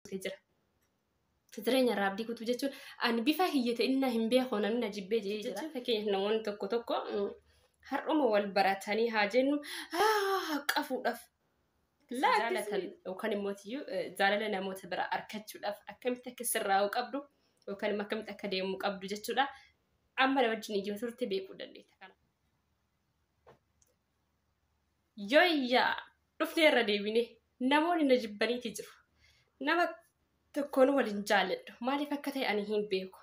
guutee jira. Jireenya irraa abdii guutuu jechuun ani bifa hiyya ta'inna hin beeku namni na jibbee jedhee jira. Fakkeenyaaf namoonni tokko tokko har'uma wal baratanii haa jennu haqqa fuudhaaf jaalatan yookaan immoo jaalala namoota biraa argachuudhaaf akkamitti akka sirraa'uu qabdu yookaan immoo akkamitti akka deemuu qabdu jechuudha. Amma na wajjin iyyuu turte beekuu dandeetta. Yoyyaa! Dhufnee irra deebinee. Namoonni na jibbaniiti jiru. Nama tokkoon wal hin jaalladhu. Maaliif akka ta'e ani hin beeku.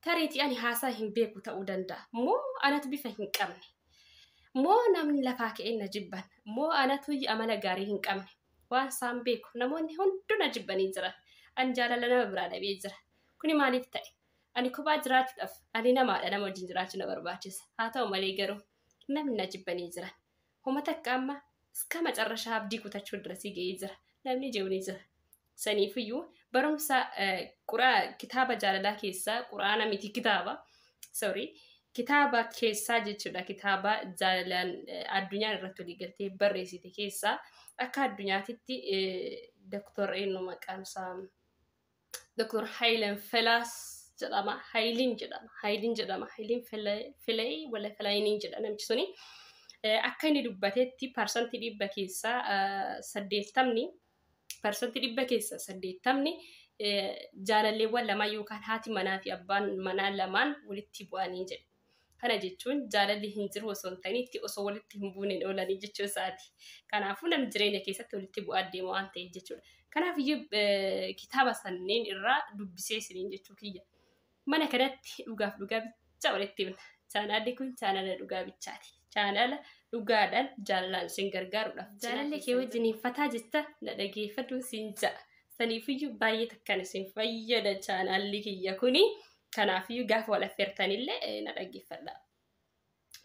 Tariitii ani haasaa hin beeku ta'uu danda'a. Moo anatu bifa hin qabne. Moo namni lafaa ka'een na jibban. Moo anatu amala gaarii hin qabne. Waan isaan beeku. Namoonni hunduu na jibbanii jira. Ani jaalala nama biraa dhabee jira. Kuni maaliif ta'e? Ani kophaa jiraachuudhaaf ani namaadha nama wajjin jiraachuu na barbaachisa. Haa ta'u malee garuu Namni na jibbanii jira. Homa takka amma iska macarrashaa abdii kutachuu dirasii ga'ee jira. Namni je'u ni jira. Saniifiyyuu barumsa quraa kitaaba jaalalaa keessaa quraana miti kitaaba sorry kitaaba keessaa jechuudha kitaaba jaalalaan addunyaan irratti walii galtee barreessite keessaa akka addunyaatitti doktor eenyu maqaan isaa Dr. Hayilan Felaas jedhama. Hayiliin jedhama. Hayiliin jedhama. Hayiliin Filayi wala Filayiniin jedha namichi suni. Akka inni dubbatetti parsantii dhibba keessaa saddeettamni parsantii dhibba keessaa saddeettamni jaalalleewwan lamaan yookaan haati manaa fi abbaan manaa lamaan walitti bu'anii jedhe. Kana jechuun jaalalli hin jiru osoo hin ta'in itti osoo walitti hin buuneen oolanii jechuu isaati. Kanaafuu namni jireenya keessatti walitti bu'aa deema waan ta'eef jechuudha. Kanaaf iyyuu eh, kitaaba sanneen irraa dubbisee isiniin jechuu kiyya. Mana kanatti dhugaaf dhugaa bicha walitti himna. Chaanaalli kun chaanaala dhugaa bichaati. Chaanaala dhugaadhaan jaalalaan isin gargaarudha. Jaalalli kee wajjin hin fataa jetta na dhageeffadhu siin ja'a. Saniifiyyuu baay'ee takkaan isin fayyada chaanaalli kiyya kuni. Kanaafuu gaafa wal affeertanillee eh, na dhaggeeffadha.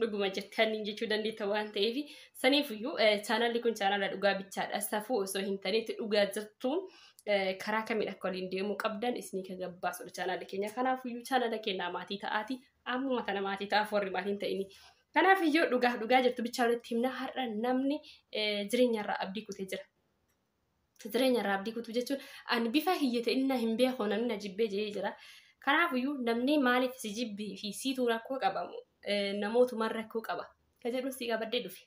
Dhuguma jettan jechuu dandeetta waan ta'eef saniifiyyuu eh, chaanalli kun chaanala dhugaa bichaadha. Safuu osoo hin taneetti dhugaa jirtuun eh, karaa kamiin akka waliin deemuu qabdan isinii kan gabbaasudha chaanalli keenya. Kanaafiyyuu chaanala keenyaa maatii ta'aati. Ammuma tana maatii ta'aaf warri maatii hin ta'ini. Kanaafiyyuu dhugaaf dhugaa jirtu bichaa walitti himna har'a namni eh, jireenyarraa abdii kutee jira. Mata duree nyarraa abdii kutuu jechuun ani bifa kiyya ta'in na hin beeku namni na jibbee jedhee jira. Kanaafiyyuu namni maaliif si jibbii fi siituu rakkoo qabamu namootumaan rakkoo qaba. Ka jedhu si qabadhee dhufe.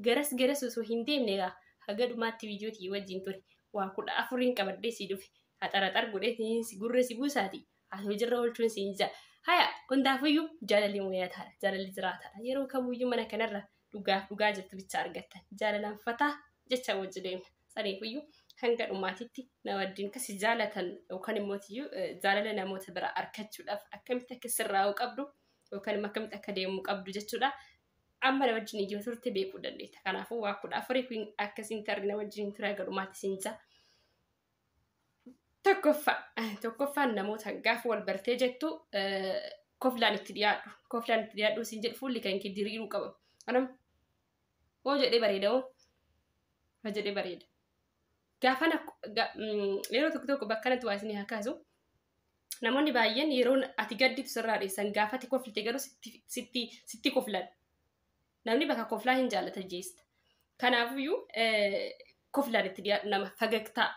Garas garas osoo hin deemne egaa haga dhumaatti viidiyoo tiyya wajjin ture. Waa kudha afuriin qabadhee si dhufe. Haxaraxar godhee si gurra si buusaati. Haa hojiirra oolchuun siin jaa. Haya hundaafuyyuu jaalalli mul'ataadha. Jaalalli jiraataadha. Yeroo kamuyyuu mana kanarra dhugaaf dhugaa jirtu bicha argattan. Jaalalaan fataa jecha wajji deemna. Saniifuyyuu hanga dhumaatitti na wajjin kasi jaalatan yookaan immoo tiyyuu jaalala namoota biraa arkachuudhaaf akkamitti akka sirraa'uu qabdu yookaan immoo akkamitti akka deemuu qabdu jechuudha. Amma na wajjin iyyuu turte beekuu dandeetta. Kanaafuu waa kudha afurii kun akkasiin tarri na wajjin tura gadhumaatti siin jaa. Tokkoffaa tokkoffaan namoota gaafa wal bartee jettu koflaan itti dhiyaadhu. Koflaan itti dhiyaadhu siin jedhu fuulli kan kee diriiruu qaba. Anam hoo jedhee bareeda hoo hoo jedhee bareeda. Gaafa yeroo tokko tokko bakka kanatti waa isin haa kaasu. Namoonni baay'een yeroo ati gadditu sirraa dheessan gaafati koflite garuu sitti sitti sitti koflan. Namni bakka koflaa hin jaallata jeesta. Kanaafuyyuu koflaan itti dhiyaadhu nama fagagtaa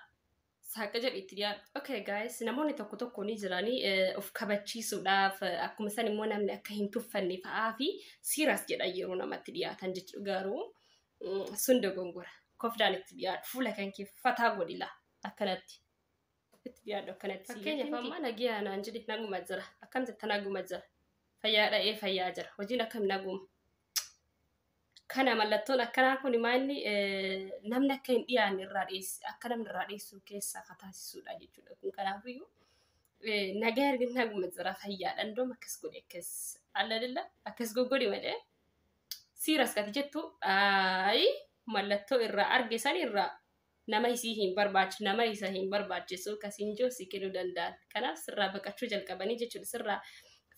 saaqa jedhu itti dhiyaadhu. Okay guys namoonni tokko tokko ni jiranii of kabachiisuudhaaf akkuma san immoo namni akka hin tuffanne fa'aa fi siiraas jedhan yeroo namatti dhiyaatan jechuudha garuu sun dogongora. Koflaan itti dhiyaadhu fuula kan kee fataa godhila akkanatti. Itti dhiyaadhu akkanatti. Fakkeenyaaf amma nagiyaa naan jedhi naguma jira. Akkam jetta naguma jira. Fayyaa dha'ee fayyaa jira. Hojiin akkam naguma. Kana mallattoon akkanaa kun maa inni namni akka hin dhiyaanne irraa dhiyeessu akka namni irraa dhiyeessu keessaa akka taasisudha jechuudha. Kun kanaafiyyuu nagaa erga naguma jira fayyaadha. Indoom akkas godhe akkas allalilla akkas goggodi malee siiras kati jettu ayi mallattoo irraa arge san irraa nama isii hin barbaachisu nama isa hin barbaachisu ka siin jiru si kennuu danda'an kanaaf sirraa baqachuu jalqabanii jechuudha sirraa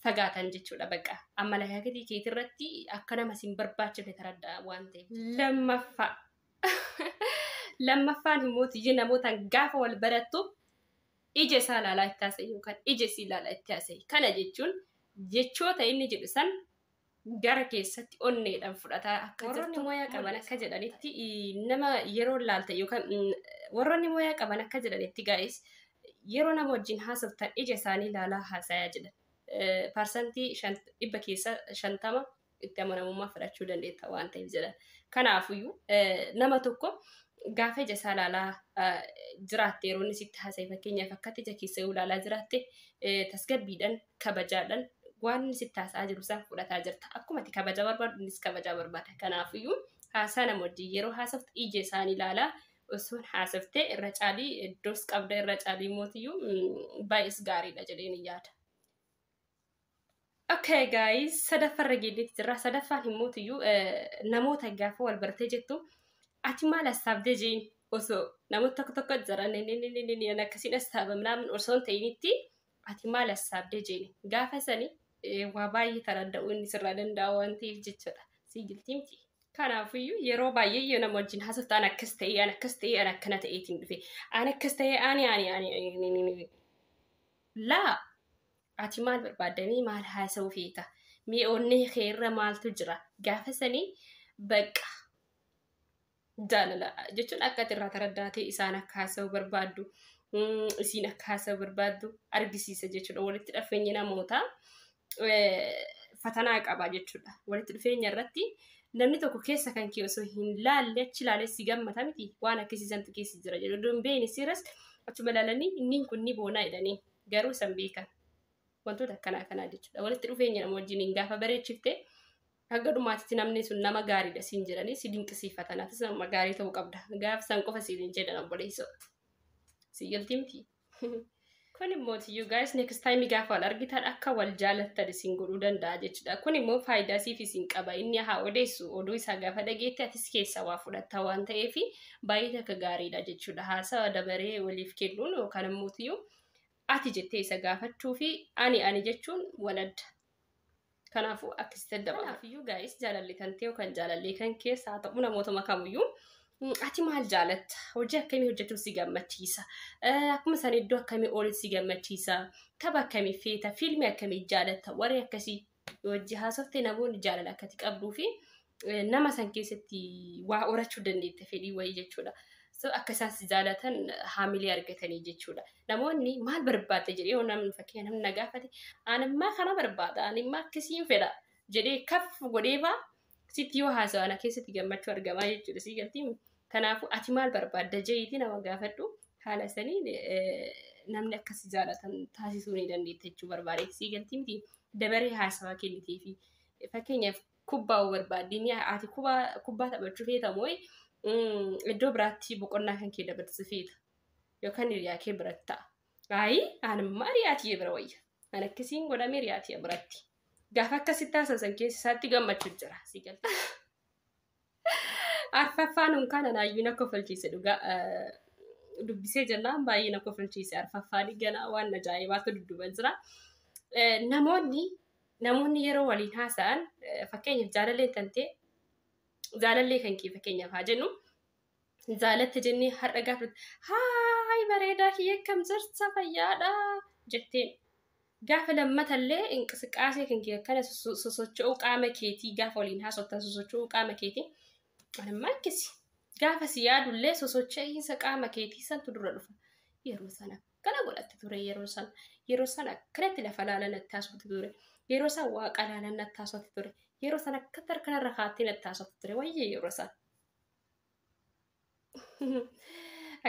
fagaatan jechuudha baqa amma lakaakitii keetii irratti akka nama siin barbaachifne taraddaa waan ta'eef lammaffaa lammaffaan immoo tiyya namootaan gaafa wal barattu ija isaa ilaalaa itti haasa'e yookaan ija isii ilaalaa itti haasa'e kana jechuun jechoota inni jedhu san gara keessatti onneedhaan fudhataa akka jirtu. Warroonni mooyaa qaban akka jedhanitti nama yeroo laalta yookaan warroonni mooyaa qaban akka jedhanitti gaa'is yeroo nama wajjin haasoftan ija isaanii ilaalaa haasayaa jedhan. Parsantii dhibba keessa shantama itti amanamummaa fudhachuu dandeetta waan ta'eef jedhan. Kanaafuyyuu nama tokko gaafa ija isaa ilaalaa jiraatte yeroo inni sitti haasa'e fakkeenyaaf akkatti ija keessa yoo ilaalaa jiraatte tasgabbiidhaan kabajaadhaan waan inni sitti haasa'aa jiru isaa fudhataa jirta. Akkuma ati kabajaa barbaadu innis kabajaa barbaada. Kanaafiyyuu haasaa nama wajjin yeroo haasoftu ija isaanii ilaalaa osoon haasoftee irra caalii iddoos qabda irra caalii mootiyyuu mm, baay'ees gaariidha jedheen hin yaada. Okay guys, sadaffarra geenyetti jirra. Sadaffaan hin mootiyyuu eh, namoota gaafa wal bartee jettu ati maal hasaabdee jeen osoo namoota tokko tokko jiran inni inni inni inni inni akkasiin hasaaba minaamin osoo hin ta'initti ati maal hassaabde jeeni gaafa sani waa baay'ee kan adda'u inni sirraa danda'a waan ta'eef jechuudha sii giltii miti. Kanaafiyyuu yeroo baay'ee yoo nama wajjin haasoftu an akkas ta'ee an akkas ta'ee an akkana ta'eetiin dhufe an akkas ta'ee ani ani ani laa ati maal barbaaddamee maal haasa'uu feeta mee onnee kee irra maaltu jira gaafa sanii baqqa jaalala jechuun akka ati irraa taraddaatee isaan akka haasa'u barbaaddu mm, isiin akka haasa'u barbaaddu argisiisa jechuudha walitti dhufeenyi namoota eh, fatanaa qaba jechuudha walitti dhufeenya irratti namni tokko keessa kan kee osoo hin laalle achi laalee si gammata miti waan akkasiisantu keessa jira jedhu oduun beeyni siiras achuma laalanii inni kun ni boonaa jedhanii garuu san beekan wantoota akkanaa kanaa jechuudha walitti dhufeenya nama wajjiniin gaafa bareechifte Hanga dhumaatitti namni sun nama gaariidha siin jedhanii si dinqisiifatan atis nama gaarii ta'uu qabda. Gaaf san qofa siin hin jedhan obboleessoo. Si galtii miti. Kun immoo you guys next time gaafa wal argitan akka wal jaalattan isin godhuu danda'a jechuudha. Kun immoo faayidaa siif isin qaba. Inni haa odeessu oduu isaa gaafa dhageetti atis keessa waa fudhatta waan ta'eef baay'ee takka gaariidha jechuudha. Haasawa dabaree waliif kennuun yookaan immoo ati jettee isa gaafachuu fi ani ani jechuun wal adda. Kanaafuu akkasitti adda baafadhu. Kanaafiyyuu gaa'is jaalalli kan ta'e kan jaalallee kan keessa haa ta'u namootuma kamiyyuu ati maal jaalatta? Hojii akkamii hojjechuun si gammachiisa? Akkuma sana iddoo akkamii oolin si gammachiisa? Tapha akkamii feeta? Fiilmii akkamii jaalatta? Warri akkasii hojii haasofte namoonni jaalala akkati qabduu fi nama san keessatti waa horachuu dandeetta fedhii wayii jechuudha. So akka isaan si jaalatan haamilee argatanii jechuudha. Namoonni maal barbaadda jedhee yoo namni fakkeenya namni na gaafate animmaa kana barbaada animmaa akkasiin fedha jedhee kaf godhee faa sitti yoo haasawa ana keessatti gammachuu argamaa jechuudha. Sii galtii kanaafuu ati maal barbaadda jeetii nama gaafadhu haala saniin namni akka si jaalatan taasisuu ni dandeetta jechuu barbaade sii galtii miti dabaree haasawaa kennitee fi fakkeenyaaf Kubbaa hoo barbaaddi? Ni ati kubbaa kubbaa taphachuu feeta moo mm, iddoo biraatti boqonnaa kan kee dabarsu feeta? Yookaan hiriyaa kee biratti ta'a. Ayi, anamma hiriyaa tiyya bira wayya. An akkasiin godhame hiriyaa tiyya biratti. Gaafa akkasitti haasa'an keessa isaatti gammachuu jira. Si galta. Arfaffaan unkaan anaayyuu na kofalchiise dhugaa dubbisee jennaan baay'ee na kofalchiise arfaffaan ganaa waan ajaa'ibaatu dudduba jira. Namoonni namoonni yeroo waliin haasa'an fakkeenyaaf jaalallee kan ta'e jaalallee kan kee fakkeenyaaf haa jennu Zaalatte jennee har'a gaafate. Haay bareedaa kiyya akkam jirta fayyaadha jetteen. Gaafa lammatallee inqisiqaasee kan kiyya akkana sosocho'uu qaama keetii gaafa waliin haasoftan sosocho'uu qaama keetii. Anammaa akkasi. Gaafa si yaadullee sosocho'iinsa qaama keetii santu dura dhufa. Yeroo sana akkana godhatte ture yeroo sana. Yeroo sana akkanatti lafa laalan natti haasofte ture. Yeroo sana waaqa laalan natti haasofte ture. Yeroo sana akkatti harkanarra kaattee natti haasofte ture. Wayyee yeroo sana.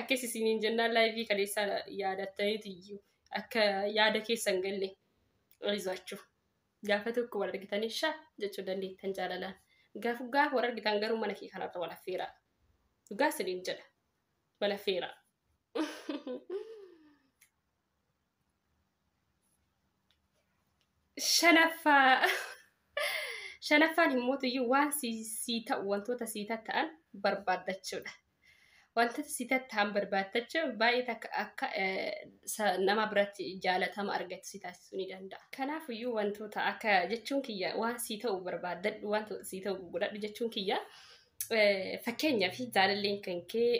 Akkas isiniin jennaan laayivii kaleessaa yaadattaniiti iyyuu akka yaada keessan galle rizaachuu. Gaafa tokko wal argitanii shaa jechuu dandeettan jaalalaan. Gaafa gaafa wal argitan garuu mana kee kanarra wal affeeraa. Dhugaa isiniin jedha. Wal affeeraa. shanaffaa shanaffaan immoo iyyuu waan sii ta'u wantoota sii ta'an barbaaddachuudha. Wantoota sii ta'an barbaaddachuun baay'ee takka akka nama biratti jaalatama argatu si taasisuu ni danda'a. Kanaaf iyyuu wantoota akka jechuun kiyya waan sii ta'u barbaaddadhu wantoota sii ta'u godhadhu jechuun kiyya fakkeenyaaf jaalalleen kan kee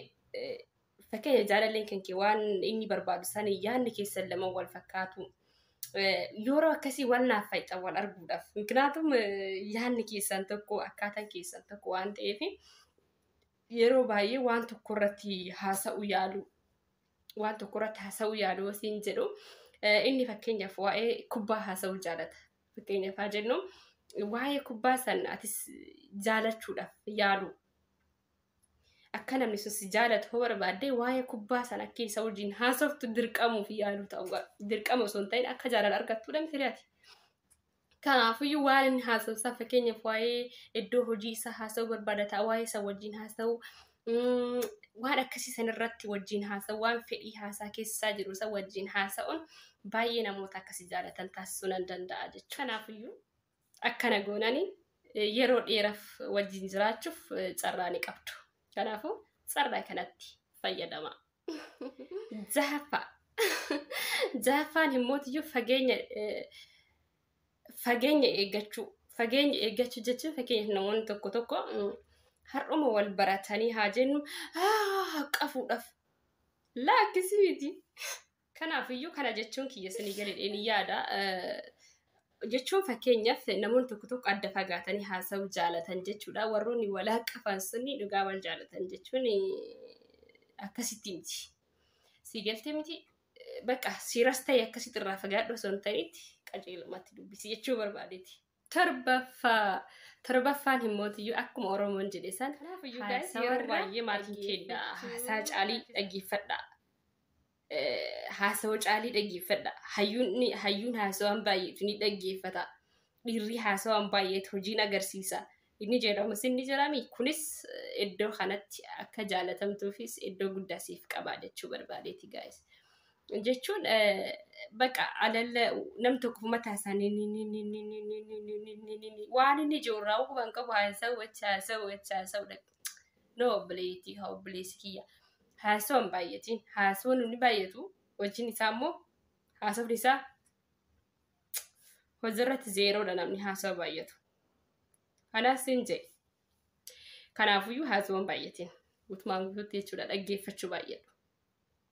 Fakkeenya jaalalleen kan kee waan inni barbaadu san yaadni keessan lama wal fakkaatu. Yeroo akkasii wal naaf fayyada wal arguudhaaf. Miknaatum yaadni keessan tokko akkaataan keessan tokko waan ta'eef yeroo baay'ee waan tokko irratti haasa'u yaalu. Waan tokko irratti haasa'u yaalu yoo siin jedhu inni fakkeenyaaf waa'ee kubbaa haasa'uu jaalata. Fakkeenyaaf haa jennu waa'ee kubbaa san atis jaalachuudhaaf yaalu. Akka namni sun si jaalatu hoo barbaadde waa'ee kubbaa sana akka isa wajjin haasoftu dirqamuuf yaaluu ta'uu qaba. Dirqama osoo hin ta'in akka jaalala argattudha miti re'ati. Kanaafiyyuu waan inni haasa'u isaa fakkeenyaaf waa'ee iddoo hojii isaa haasa'uu barbaada ta'a waa'ee isa wajjin haasa'uu mm, waan akkasii san irratti wajjin haasa'u waan fedhii haasaa keessaa jiru isa wajjin haasa'uun baay'ee namoota akkasii jaalatan taasisuu nan danda'a jechuudha. Kanaafiyyuu Akkana goonani yeroo dheeraf wajjin jiraachuuf carraa ni qabdu. Kanaafuu carraa kanatti fayyadama. Jahaffaa. Jahaffaan himmootiyyuu fageenya fageenya eeggachuu. Fageenya eeggachuu jechuun fakkeenyaaf namoonni tokko tokko har'uma wal baratanii haa jennu qafuudhaaf laakkisii miti. Kanaafiyyuu kana jechuun kiyya isinii galedheen yaada. Jechuun fakkeenyaaf namoonni tokko tokko adda fagaatanii haasa'uu jaalatan jechuudha. Warroonni wal haqqafan sunni dhugaa wal jaalatan jechuun akkasitti miti. Sii galtee miti bakka siiras ta'e akkasitti irraa fagaadhu osoo hin ta'initti qajeelumatti dubbisi jechuu barbaadeeti. Torbaffaa. Torbaffaan hin mootiyyuu akkuma Oromoon jedhe san. Kanaafuu iyyuu guys Haasawa yeroo irraa baay'ee maal hin kenna. dhaggeeffachuu Haasaa caalii dandeessu. dhaggeeffadha. Eh, Haasawa caalii dhaggeeffadha. Hayyuun ni- hayyuun haasawaan baay'eetu ni dhaggeeffata. Dhiirri haasawaan baay'eetu hojiin agarsiisa. Inni jedhamus inni jedhami. Kunis eh, iddoo kanatti akka jaalatamtuufis iddoo guddaa siif qaba jechuu barbaadeeti guys. jechuun baqa alalla nam tokko mataa isaanii waan inni jiru irraa hubuu kan qabu haasa'u achi haasa'u achi haasa'u no obboleettii haa obboleessi kiyya haasa'u hin baay'atiin haasa'uun inni baay'atu hojiin isaa immoo haasa'uun isaa hojiirratti zeeroodha namni haasa'u baay'atu kanaaf siin jedhe kanaafuyyuu haasa'uun baay'atiin guutumaan guutuutti jechuudha dhaggeeffachuu baay'atu.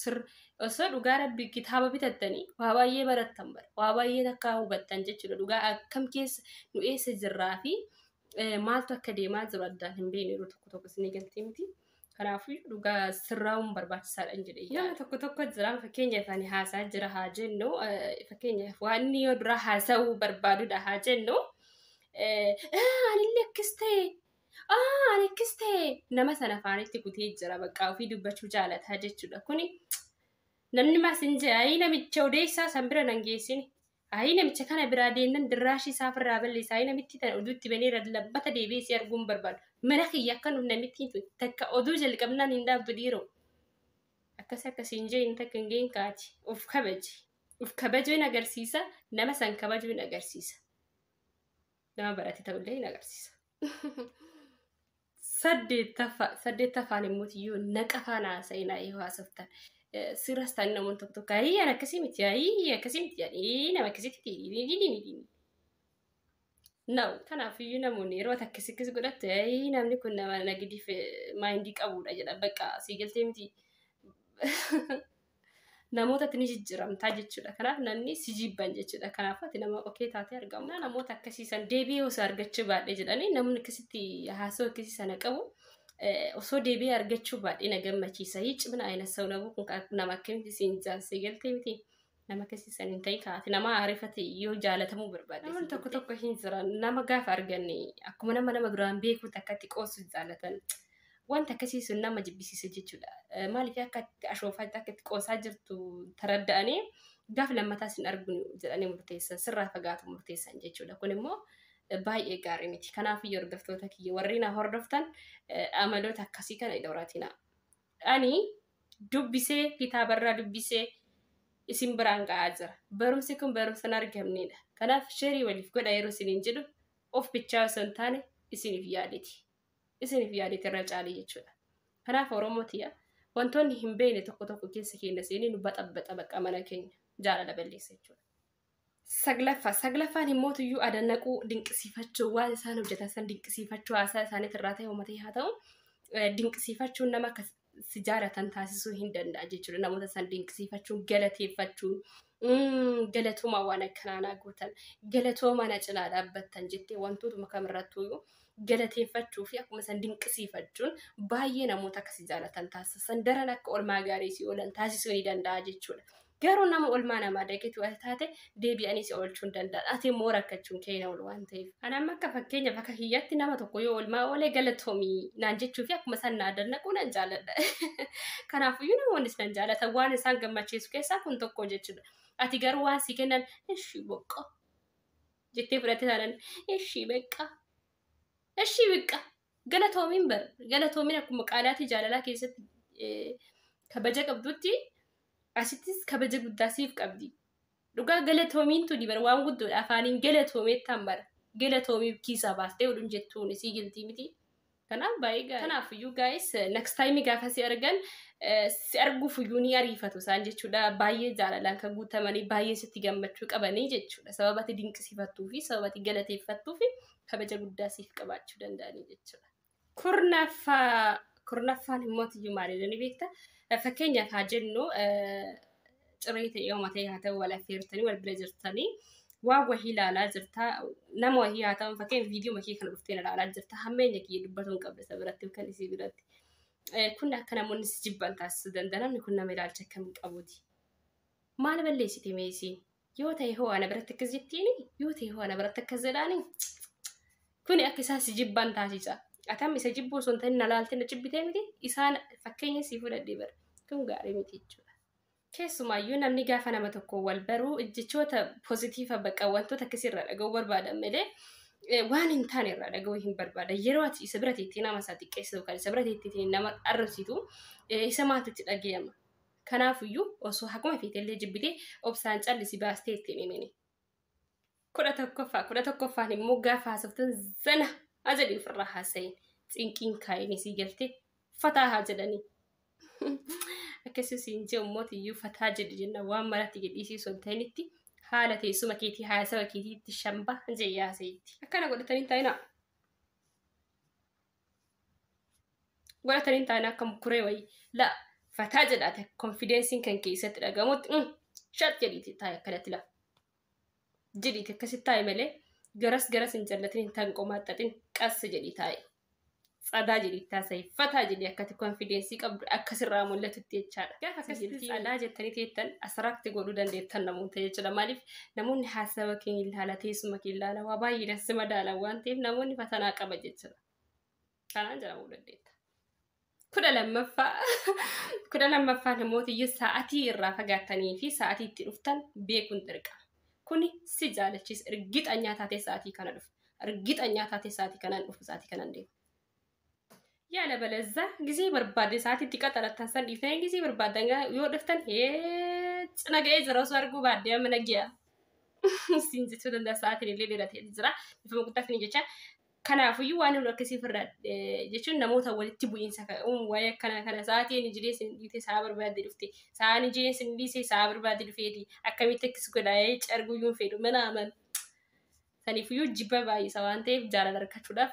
Sir osoo dhugaa rabbi kitaaba bitattanii waa baay'ee barattan bara waa baay'ee takkaa hubattan jechuudha dhugaa akkam keessa nu eessa jirraa fi eh, maaltu akka deemaa jiru addaan hin beekne yeroo tokko tokko isinii galtee miti kanaafuu dhugaa sirraa'uun barbaachisaadha hin jedhe nama tokko tokko jira fakkeenyaaf ani haasaa jira haa jennu eh, fakkeenyaaf waan inni yoo duraa haasa'uu barbaadudha haa jennu eh, "Ah, anillee akkas ta'e Aa ani akkas ta'e nama sana afaanitti kutee jira bakka ofii dubbachuu jaalataa jechuudha kuni namni maas hin jee ayii namicha odeessaa san bira nan geessine ayii namicha kana biraa deemnan dirraashii isaa ofirraa balleessa ayii namitti tana oduutti banee labbata deebi'ee si arguun barbaadu mana kiyya akka nuuf namittiin tun takka oduu jalqabnaan hin dhaabdu dhiiroo akkasi akkasi hin jeen takka hin geen kaati of kabaji of kabajuu hin agarsiisa nama san kabajuu hin agarsiisa. nama barate ta'ullee hin agarsiisa. Saddeettaffaa saddeettaffaan immoo yoo naqafaan haasa'inaa yoo haasoftan sirras ta'an namoonni tokko tokko ayii an akkasii miti ayii akkasii miti jedhanii nama akkasitti na kanaaf iyyuu namoonni yeroo akkasii akkasii godhatte ayii namni kun nama nagadiif maayindii qabudha jedha bakka sii galtee miti. namootatti ni jijjiiramtaa jechuudha. Kanaaf namni si jibban jechuudha. Kanaaf ati nama okee taatee argamu. Naa namoota akkasii san deebi'ee osoo argachuu baadhee jedhanii namni akkasitti haasoo akkasii sana qabu eh, osoo deebi'ee argachuu baadhee na gammachiisa. Hii cimina ayina sa'u nabuu kun ka- nama akkamitti siin jaansee galtee miti. Nama akkasii san hin ta'in kaati. Nama aarifate yoo jaalatamuu barbaade. Namoonni tokko tokko hin jiran nama gaafa arganne akkuma nama nama duraan beekuutti akkatti qoosu jaalatan. Wanti akkasii sun nama jibbisiisa jechuudha. Eh, Maaliif akka itti ashoofaa akka itti qoosaa jirtu taradda'anii gaaf lammataa sin arguu jedhanii murteessan sirraa fagaatu murteessan jechuudha. Kun immoo eh, baay'ee gaarii miti. Kanaafuu iyyuu hordoftoota kiyya warri na hordoftan eh, amaloota akkasii kana hin horatina. Ani dubbisee kitaabarraa dubbisee isin biraan ga'aa jira. Barumsi kun barumsa hin argamneedha. Kanaaf sheerii waliif godha yeroo isiniin jedhu of bichaa osoo hin taane isiniif yaaditi. isiniif yaadite irra caalee jechuudha. Kanaaf Oromoo tiya wantoonni hin beekne tokko tokko keessa keenya seenee nu baxabbaxa bakka mana keenya jaalala balleessa jechuudha. Saglaffaa saglaffaan himmootuyyuu adannaquu dinqisiifachuu waan isaan hojjetan san dinqisiifachuu haasaa isaaniitti irraa ta'e uummata haa ta'u dinqisiifachuun nama akka sijaaratan taasisuu hin danda'a jechuudha. Namoota san dinqisiifachuun, galateeffachuun, mm, galatoomaa waan akkanaa naa gootan, galatoomaa na cinaa dhaabbattan jettee wantootuma kamirrattuuyyuu galateeffachuu fi akkuma san dinqisiifachuun baay'ee namoota akka si jaalatan taasisan daran akka olmaa gaarii si oolan taasisuu ni danda'a jechuudha. Garuu nama olmaa namaa daqitu ati taate deebi'anii si oolchuu hin danda'an. Ati immoo rakkachuun kee hin oolu waan ta'eef. Ani amma akka fakkeenyaaf akka kiyyatti nama tokko yoo olmaa oolee galatoomii naan jechuu fi akkuma isaan naa dannaquu nan jaaladha. Kanaafiyyuu namoonnis nan jaalatan waan isaan gammachiisu keessaa kun tokko jechuudha. Ati garuu waan si kennan ishii boqqoo jettee fudhatte taanaan ishii beqqaa ishii beqqaa Galatoomiin bar galatoomiin akkuma qaalaatii jaalalaa keessatti kabaja qabdutti asittis kabaja guddaa siif qabdi. Dhugaa galatoomiin tuni bar waan guddoodha afaaniin galatoomeettaan bar galatoomiif kiisaa baastee odun jettuun isii giltii miti. Kanaaf baay'ee gaarii. Kanaaf iyyuu gaa'is next time gaafa si argan si arguuf iyyuu ni ariifatu isaan jechuudha. Baay'ee jaalalaan kan guutamanii baay'ee sitti gammachuu qabanii jechuudha. Sababati dinqisiifattuu fi sababati galateeffattuu fi kabaja guddaa siif qabaachuu danda'anii jechuudha. Kurnaffaa kurnaffaan immoo iyyuu maalidha ni beekta. Fakkeenyaaf haa jennu ciree ta'ee hooma ta'ee haa ta'u wal affeertanii wal bira jirtanii waan wahii ilaalaa jirta nama wahii haa ta'u fakkeenyaaf viidiyoo makee kana dhuftee ilaalaa jirta hammeenya kiyya dubbatu hin qabda isa biratti yookaan isii biratti. Kun akka namoonni si jibban taasisuu danda'a namni kun nama ilaalcha akkamii qabuuti. Maal balleessite mee isiin? Yoo ta'e hoo ana biratti akkas jettiini? Yoo ta'e hoo ana biratti akkas jedhaani? Kuni akka isaan si jibban taasisa. Atam isa jibbuu osoo hin ta'in na laaltee na jibbitee miti? Isaan fakkeenya si fudhadhee bara. Kun gaarii miti jechuudha. Keessumaayyuu namni gaafa nama tokko wal baruu jechoota pozitiiva bakka wantoota akkasii irraa dhaga'uu barbaadan malee eh, waan hin taane irraa dhaga'uu hin barbaadan. Yeroo ati isa bira teettee nama isaa xiqqeessitu kan isa bira teettee nama arrabsitu eh, isa maaltu itti dhaga'ama? Kanaafuyyuu osoo haguma feetellee jibbitee obsaan callisi baastee itti hin himini. kudha tokkoffaa kudha tokkoffaan immoo gaafa haasoftan zana haa jedhi ofirraa haasa'iin cinqiin kaa'inii sii galtee fataa haa jedhanii akkasii siin jee ummootiyyuu fataa jedhi jenna waan maratti jedhiisii osoo hin ta'initti haala teessuma keetii haasawa keetiitti shambaa jee yaasa'itti akkana godhatanii taa'inaa godhatan hin taane akka kuree wayii la fataa jedhaate konfideensiin kan keessatti dhagamutti mm, shat jedhiiti taa'e akkanatti la jedhiiti akkasitti taa'e malee garas garas hin jallatin hin tan qomaaxxatin qassa jedhii taa'e tsadaa jedhii taasai fataa jedhii akkati konfideensii qabdu akkasirraa mul'atutti jechaadha gaafa akkasitti tsadaa jettanii teettan asiraatti godhuu dandeettan namoota jechuudha maaliif Namoonni haasawa kee hin ilaala, teessuma kee hin ilaala, waa baay'eedhaan si madaalan waan ta'eef namoonni fatanaa qaba jechuudha. Kanaan jedhamuu dandeetta. Kudha lammaffaa kudha lammaffaa namoota iyyuu sa'atii irraa fagaattanii fi sa'atii itti dhuftan beekuun dirqama. Kuni si jaalachiisa. Ergixanyaa taatee sa'atii kana dhufa. Ergixanyaa taatee sa'atii kanaan dhufa sa'atii kanaan deema. Yaala balazza gizee barbaadde sa'aatii itti qaxarattan san dhiiftanii gizee barbaaddan gaa- yoo dhuftan hee cina ga'ee jira osoo arguu baadde amma nagyaa. Siin jechuu danda'a sa'aatiin illee dheeratee jira. Bifuma guddaa fini jecha. Kanaafuyyuu waan hin akkasii firra jechuun namoota walitti bu'iinsa ka- uumu waa'ee akkanaa kana sa'aatii inni jireenya sin dhiite sa'a barbaadde dhufte sa'a inni jireenya sin dhiise sa'a barbaadde dhufeeti akkamitti akkas godha ee carguu yuun fedhu mana aman. Saniifuyyuu jibba baay'isa waan ta'eef jaalala argachuudhaaf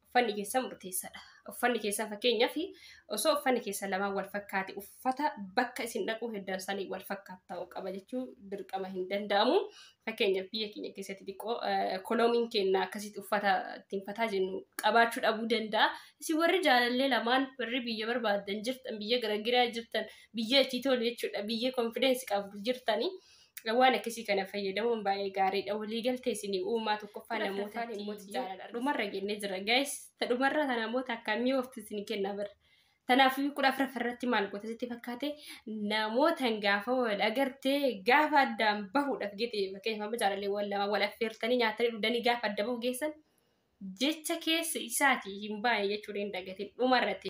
uffanni keessan murteessaadha. Uffanni keessan fakkeenyaaf osoo uffanni keessan lamaan wal fakkaate uffata bakka isin dhaquu heddan sanii wal fakkaatu ta'uu qaba jechuu dirqama hin danda'amu. Fakkeenyaaf biyya keenya keessatti xiqqoo koloomiin keenya akkasitti uffata ittiin fataa jennu qabaachuu dhabuu danda'a. Isin warri jaalallee lamaan warri biyya barbaadan jirtan biyya garagiraa jirtan biyya itti tolu jechuudha biyya konfideensi qabdu jirtanii. waan akkasii kana fayyadamuun baay'ee gaariidha. Waliigaltee isin uumaa tokkoffaa namoota dhumarra jennee jira. Gaayis ta dhumarra ta namoota akkamii ooftu isin kenna bara. Kanaafuu kudha afuraffa irratti maal goota sitti fakkaate namootan gaafa wal agartee gaafa addaan bahuudhaaf gite fakkeenyaaf amma jaalallee wal lama wal affeertanii nyaatanii dhugdanii gaafa adda bahu geessan jecha keessa isaatii hin baane jechuudha hin dagatin dhumarratti.